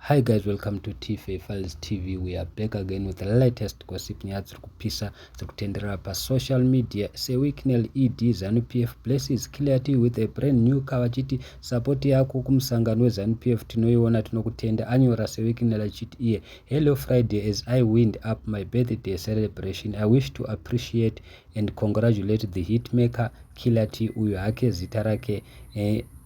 Hi guys welcome to Tife Files TV we are back again with the latest gossip nyaya dziri kupisa dziri kutenderera pasocial media sewicknel ed zanupf PF blesses clearty with a brand new car vachiti support yako kumusangano weZanu PF tinoiona tinokutenda anyora sewicknel achiti iye hello Friday as I wind up my birthday celebration I wish to appreciate and congratulate the hitmaker clearty uyu hake zita rake eh,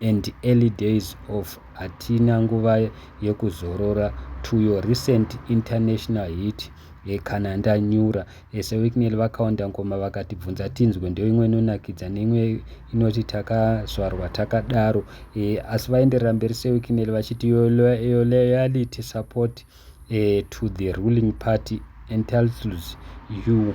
and early days of hatina nguva yekuzorora to your recent international hit ye Kana Ndanyura ese Wicknell vakaonda ngoma vakatibvunza tinzwe ndoimwe inonakidza neimwe inoti takazvarwa takadaro e, asi vaenderera mberi seWicknell vachiti your, your loyalty support uh, to the ruling party entitles you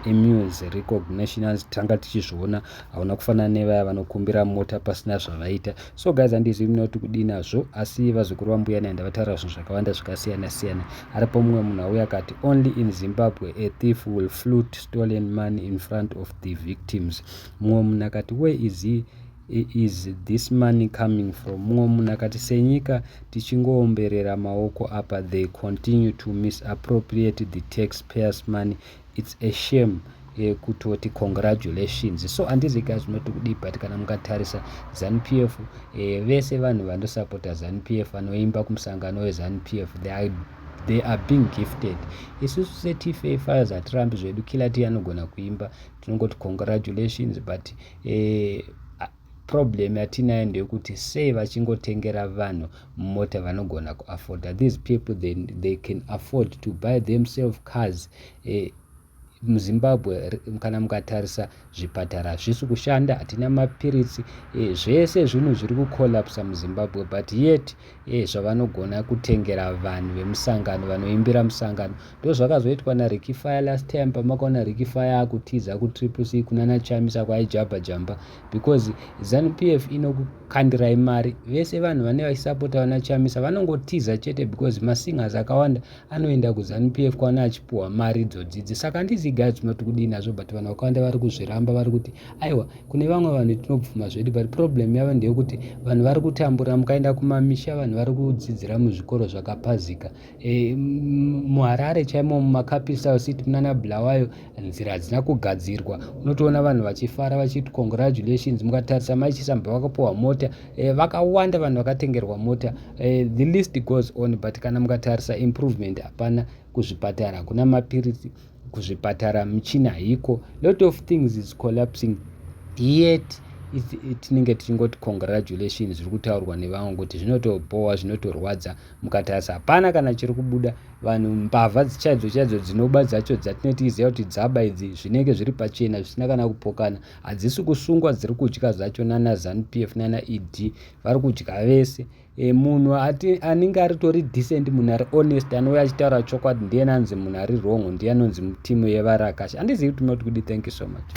emus recognitions tanga tichizviona hauna kufanana nevaya vanokumbira mota pasina zvavaita so guys handizivi muna kuti kudii nazvo asi vazukuru vambuya nai ndavataura zvinhu zvakawanda zvakasiyana siyana aripo mumwe munhu auya akati only in zimbabwe a thief will flute stolen money in front of the victims mumwe munhu akati where is he Is this money coming from? Mumwe munhu akati senyika tichingoomberera maoko apa they continue to misappropriate the taxpayers money it's a shame kutoti congratulations so andizi ka zvinoti kudii but kana mukatarisa zanupf eh, vese vanhu vandosapota zanupf vanoimba kumusangano wezanupf they are they are being gifted isusu setfa fires hatirambi zvedu kila ti anogona kuimba tinongoti congratulations but e, problem yatinayo ndeyekuti sei vachingotengera vanhu mota vanogona kuafforda these people they, they can afford to buy themselves cars e, muzimbabwe kana mukatarisa zvipatara hazvisi kushanda hatina mapiritsi e, zvese zvinhu zviri kucollapsa muzimbabwe but yet Hey, zvavanogona kutengera vanhu vemusangano vanoimbira musangano ndo zvakazoitwa naricky fire last time pamakaona ricky fire akutiza kutriple c kunana chamisa kwaijabha jamba because zanupf f inokukandirai mari vese vanhu vane vachisapota vana chamisa vanongotiza chete because masingers akawanda anoenda kuzanu pf kwaana achipuhwa mari dzodzidzi saka handizi guy kuti mati kudii nazvo but vanhu vakawanda vari kuzviramba vari kuti aiwa kune vamwe vanhu tinobvuma zvedu but problem yavo ndeyekuti vanhu vari kutambura mukaenda kumamisha vanhu vari kudzidzira muzvikoro zvakapazika e, muharare chaimo mumakapisa city munana bulawayo nzira hadzina kugadzirwa unotoona vanhu vachifara vachiti congratulations mukatarisa mai chisamba vakapuwa mota e, vakawanda vanhu vakatengerwa mota e, the list goes on but kana mukatarisa improvement hapana kuzvipatara hakuna mapiritsi kuzvipatara michina haiko lot of things is collapsing yet tinenge tichingoti congratulations zviri kutaurwa nevangu kuti zvinotobhowa zvinotorwadza mukatarisa hapana kana chiri kubuda vanhu mbavha chaidzo chaidzo dzinoba dzacho dzatinenge tichiziva kuti dzaba idzi zvinenge zviri pachena zvisina kana kupokana hadzisi kusungwa dziri kudya zvacho nana zanu p f nana e d vari kudya vese e, munhu ati anenge aritori decent munhu ari honest anouya achitaura chokwadi ndiye nanzi munhu ari wrong ndiye anonzi mutimu yevarakashi handizivi kuti munoti kudi thank you so much